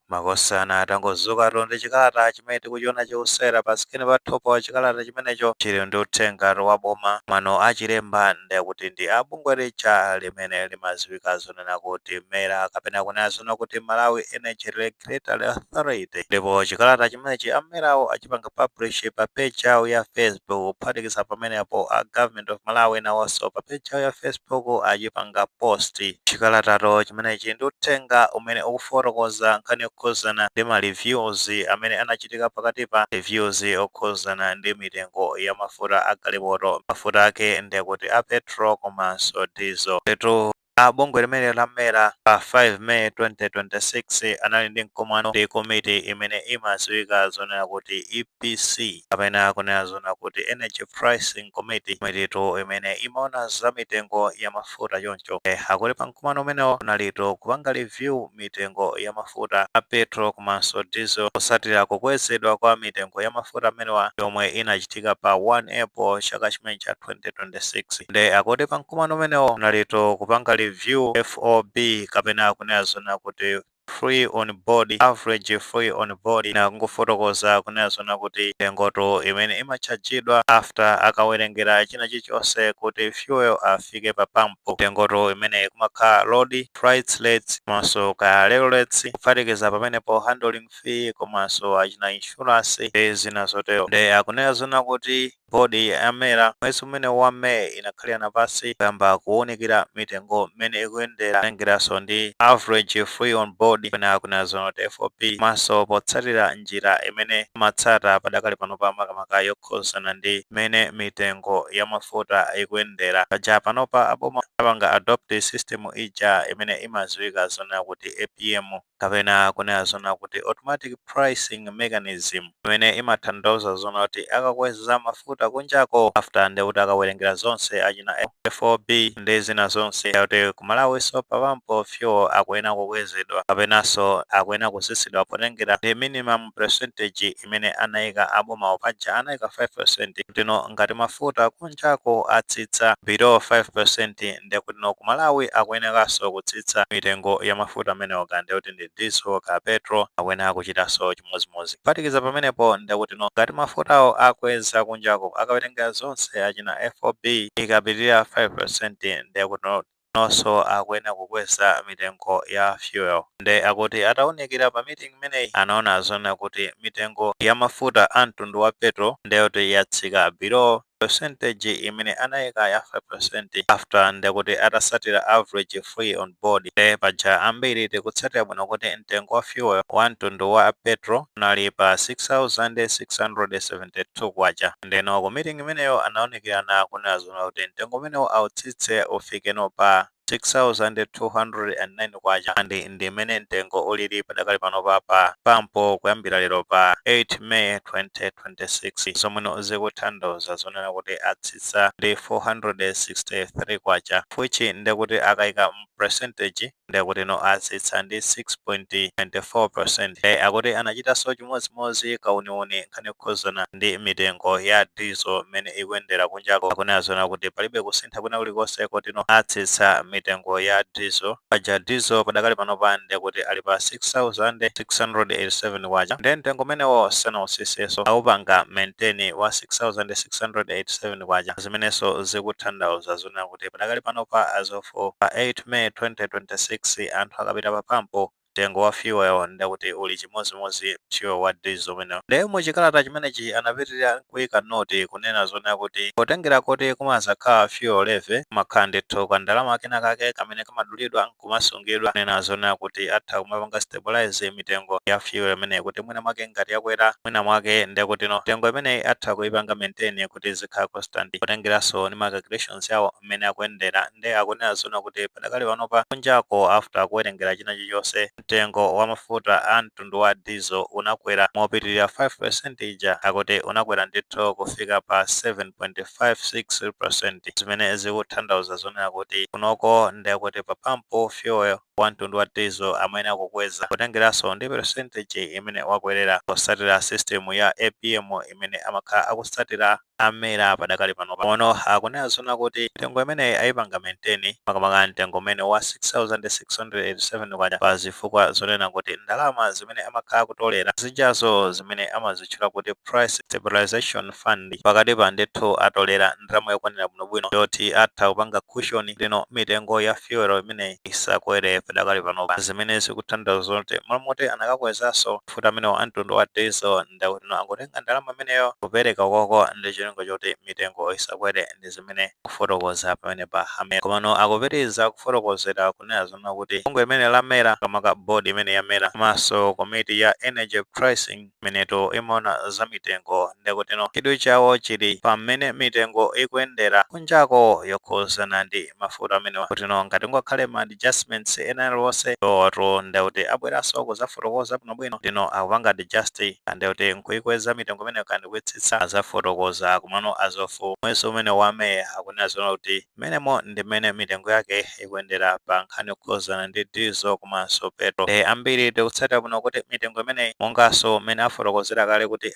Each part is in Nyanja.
makosana tangodzukatu ndi chikalata chimene tikuchiona chikusewera pa sikini pathupo chikalata chimenecho chili ndi uthengatu wa boma mano achilemba ndekuti ndi a bungwe lija limene limadziwika zoona kuti mera kapena kunena zoona kuti malawi energy regulatory authority ndipo chikalata chimenechi amerawo achipanga publish pa page yawo ya facebook kuphatikiza pamenepo a government Government of Malawi nawonso pa page yawo ya Facebook achipanga post chikalatatu chimenechi ndi uthenga umene ukufotokoza nkhani yokhudzana ndi ma reviews amene anachitika pakati pa reviews okhudzana ndi mitengo ya mafuta a galimoto. Mafuta ake ndekuti a petrol komanso diesel. Nditu A bungwe limeneli la MERA pa 5 May 2026 anali ndi mkumano ndi komiti imene imadziwika zoona kuti EPC kapena kunena zoona kuti Energy Pricing Committee, komititu imene imaona za mitengo ya mafuta choncho, eh, akuti pa mkumano umenewo kunalitu kupanga review mitengo ya mafuta a petrol komanso diesel potsatira kukwezedwa kwa mitengo ya mafuta amenewa yomwe inachitika pa 1 April chaka chimenechi cha 2026. Nde akuti pa mkumano umenewo kunalitu kupanga review FOB kapena kunena zoona kuti free on board, average free on board ndangofotokoza kunena zoona kuti mitengotu imene imatchajidwa after akawerengera china chilichonse kuti fuel afike pa pampu, mitengotu imeneyi kumakhala road freight rates komanso kaya railage rates kuphatikiza pamenepo handling fee komanso achina insurance ndi zina zotero nde akunena zoona kuti board ya mera mwezi umenewu wa may inakhalirana pansi kuyamba kuwunikira mitengo mmene ikuyendera kutengeraso ndi average free on board kapena kunena zoona kuti fob komanso potsatira njira imene amatsata padakali panopa makamaka yokhudzana ndi mmene mitengo ya mafuta ikuyendera. Paja panopa a boma anapanga adopt system ija imene imadziwika zoona kuti APM kapena kunena zoona kuti automatic pricing mechanism imene imathandauza zoona kuti akakweza mafuta kunjako after ndekuti akawerengera zonse achina FOB ndi zina zonse kuti ku Malawinso pa pampu fuel akuyenera kukwezedwa kapenanso akuyenera kutsitsidwa potengera ndi minimum percentage imene anaika abomawo paja anaika 5% kutino ngati mafuta kunjako atsitsa below 5% ndekuti kuno ku Malawi akuyenekanso kutsitsa mitengo ya mafuta amenewo kaya ndekuti ndi diesel kaya petrol akuyenera kuchitanso chimodzimodzi. Kuphatikiza pamenepo ndekutino ngati mafutawo akweza kunjako akawerengera zonse achina FOB ikapitirira 5% ndekuti kunonso akuyenera kukweza mitengo ya fuel. Nde akuti ataunikira pa meeting imeneyi anaona zoona kuti mitengo ya mafuta a mtundu wa petrol ndi yoti yatsika below Percentage imene anaika ya 5% after ndekuti atasatira average free on board nde paja ambiri tikutsatira bwino kuti mtengo wa fuel wa mtundu wa petrol unali pa K6672 ndeno ku meeting imeneyo anaunikirana kunena zonena kuti mtengo umenewu autsitse ufike no pa K6,209 and ndi m'mene mtengo ulili padakali panopa pa pampo kuyambira lero pa 8 May 2026 zomweno zikuthandauza zonena kuti atsitsa ndi K463 which ndekuti akaika mu percentage ndekutino atsitsa ndi 6.94% nde akuti anachitanso chimodzimodzi kauniuni nkhani yokhuzana ndi mitengo ya diesel m'mene ikuyendera ku kunjako akunena zonena kuti palibe kusintha kwina kulikonse koti no atsitsa mitengo ya diesel paja diesel padakali panopa ndiye kuti ali pa 6687 kwacha ndiye mtengo umenewo sanautsitsenso aupanga maintain wa 6687 kwacha zimenenso zikuthandauza zonena kuti padakali panopa as of pa 8 may 2026 anthu akapita pa pampo mtengo wa fuel nde kuti uli chimodzimodzi fuel wa diesel umenewo. Nde mu chikalata chimenechi anapitilira kuika note kunena zonena kuti potengera kuti kumakhala fuel levy, kumakhala ndithu ka ndalama kena kake kamene kamadulidwa nkumasungidwa kunena zonena kuti atha kumapanga stabilise mitengo ya fuel imeneyi kuti mwina mwake ngati yakwera mwina mwake ndekutino mitengo imeneyi atha kuipanga maintain kuti izikhala constant potengeranso ndi ma calculations awo mmene akuyendera nde akunena zonena kuti padakali panopa kunjako after kuwerengera china chilichonse mtengo wa mafuta a mtundu wa diesel unakwera mopitilira 5% ija akuti unakwera ndithu kufika pa 7.56% zimene zikuthandauza zonena kuti kunoko nde kuti pa pump fuel wa mtundu wa diesel amayenera kukweza kutengeranso ndi percentage imene wakwelera potsatira system ya APM imene amakhala akutsatira a Mera padakali panopa ng'ono akunena zonena kuti mitengo imeneyi ayipanga maintain makamaka mtengo umenewu wa K6687 pa zifukwa zonena kuti ndalama zimene amakhala akutolera zijazo zimene amazitchula kuti Price Stabilization Fund pakatipa ndithu atolera ndalama yokwanira bwinobwino yoti atha kupanga cushion kuti mitengo ya fuel imeneyi isakwere padakali panopa zimene zikuthandauza zoti malo moti anakakwezanso Mafuta amenewa a mtundu wa Diesel ndekutino angotenga ndalama imeneyo kupereka ukoko ndi cholinga choti mitengo isakwere ndi zimene akufotokoza pamenepa a Mera. Komano akupitiriza kufotokozera kunena zonena kuti bungwe limeneli la Mera, makamaka board imeneyi ya Mera komanso komiti ya Energy Pricing imeneno imaona za mitengo ndekutino chidwi chawo chili pa mmene mitengo ikuyendera kunjako yokhuzana ndi ndi mafuto amenewa kuti no ngati kungakhale ma adjustments ena aliwonse iwowotu nde kuti abweranso kuzafotokoza bwinobwino kuti no akupanga adjust nde kuti nkuikweza mitengo imeneyo kaya ndi kuitsitsa azafotokoza komano as of mwezi umene wa May akunena zoona kuti mmenemo ndi mmene mitengo yake ikuyendera pa nkhani yokhudzana ndi diesel komanso petrol nde ambiri tikutsatira bwino kuti mitengo imeneyi monganso mmene afotokozera kale kuti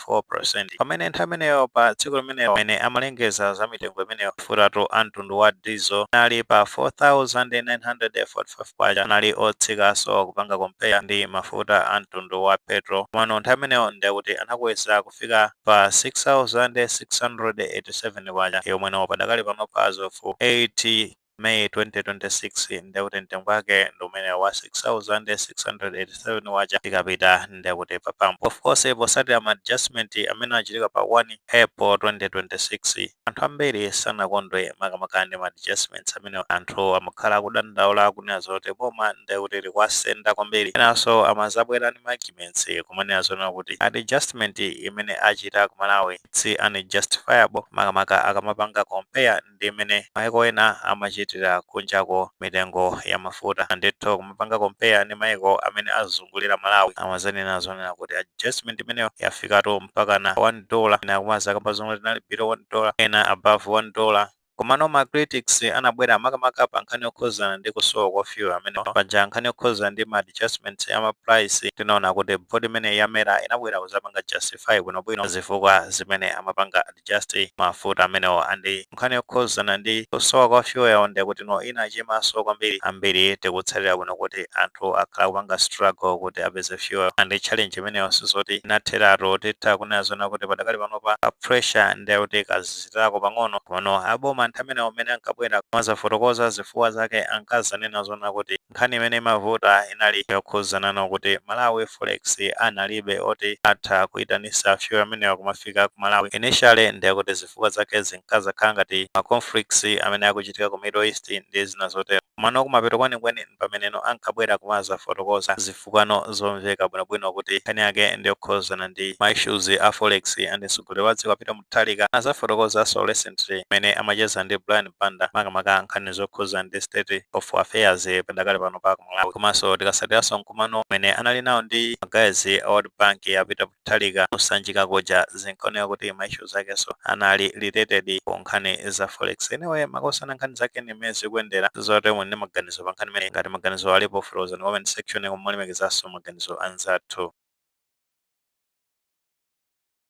4 peresenti. Pamene nthawi imeneyo pa tsiku limenelo amene amalengeza za mitengo imeneyo mafutatu a mtundu wa diesel anali pa K4,945 anali otsikanso kupanga compare ndi mafuta a mtundu wa petrol komano nthawi imeneyo ndi akuti anakweza kufika pa K6,687 yomweyo padakali panopa as of 8 May 2026 ndiye kuti mtengo wake ndi umenewo wa 6687 kwacha tikapita ndiye kuti pamwambo of course potsatira ma adjustment amene achitika pa 1 April 2026 anthu ambiri sanakondwe makamaka ndi ma adjustments amene anthu amakhala akudandaula akunena zoti boma ndiye kuti likuwasenda kwambiri enanso amazabwera ndi ma arguments kumanena zoona kuti adjustment imene achita ku Malawi ndi unjustifiable makamaka akamapanga compare ndi mmene maiko ena amachitira kunjako mitengo ya mafuta ndithu kumapanga compare ndi maiko amene azungulira Malawi amazanena zoona kuti adjustment imeneyo yafikatu mpakana 1 dollar ena akumazakamba zomwe tinali below 1 dollar ena above 1 dollar komano ma critics anabwera makamaka pa nkhani yokhuzana ndi kusowa kwa fuel amene paja nkhani yokhuzana ndi ma adjustments ya ma price ndinaona kuti board imene ya MERA inabwera kuzapanga justify bwinobwino zifukwa zimene amapanga just mafuta amenewo and nkhani yokhuzana ndi kusowa kwa fuel nde kuti no inachimanso kwambiri ambiri tikutsatira bwino kuti anthu akhala akupanga struggle kuti apeze fuel and challenge imeneyo sizoti inatheratu titha kunena zoona kuti padakali panopa a pressure nde kuti kaziziritsako pang'ono komano aboma nthawi imeneyo amene ankabwera kumazafotokoza zifukwa zake ankazanena zoona kuti Nkhani imene imavuta inali yokhuzana ndi kuti Malawi Forex analibe oti atha kuitanisa fuel amenewa kumafika ku Malawi. Initially ndiye kuti zifukwa zake zinkazakhala ngati ma conflicts amene akuchitika ku Middle East ndi zina zotero. Komano kumapeto kwenikweni mpameneno ankabwera kumazafotokoza zifukwano zomveka bwinobwino kuti nkhani yake ndiyokhuzana ndi ma issues a Forex and mtsogoleri wa dziko a Peter Mu Mutharika azafotokozanso recently mmene amacheza ndi Brian Banda makamaka nkhani zokhuza ndi state of affairs padakali panopa ku Malawi komanso tikatsatiranso mkumano umene anali nawo ndi ma guys a World Bank a Peter Mutharika ku Sanjika kuja zinkaoneka kuti ma issues akenso anali related ku nkhani za forex. Anyway makosana nkhani zake ndi mmene zikuyendera ndizoona kuti muli ndi maganizo pa nkhani imeneyi ngati maganizo alipo fotokozani mu comment section koma molemekezanso maganizo anzathu.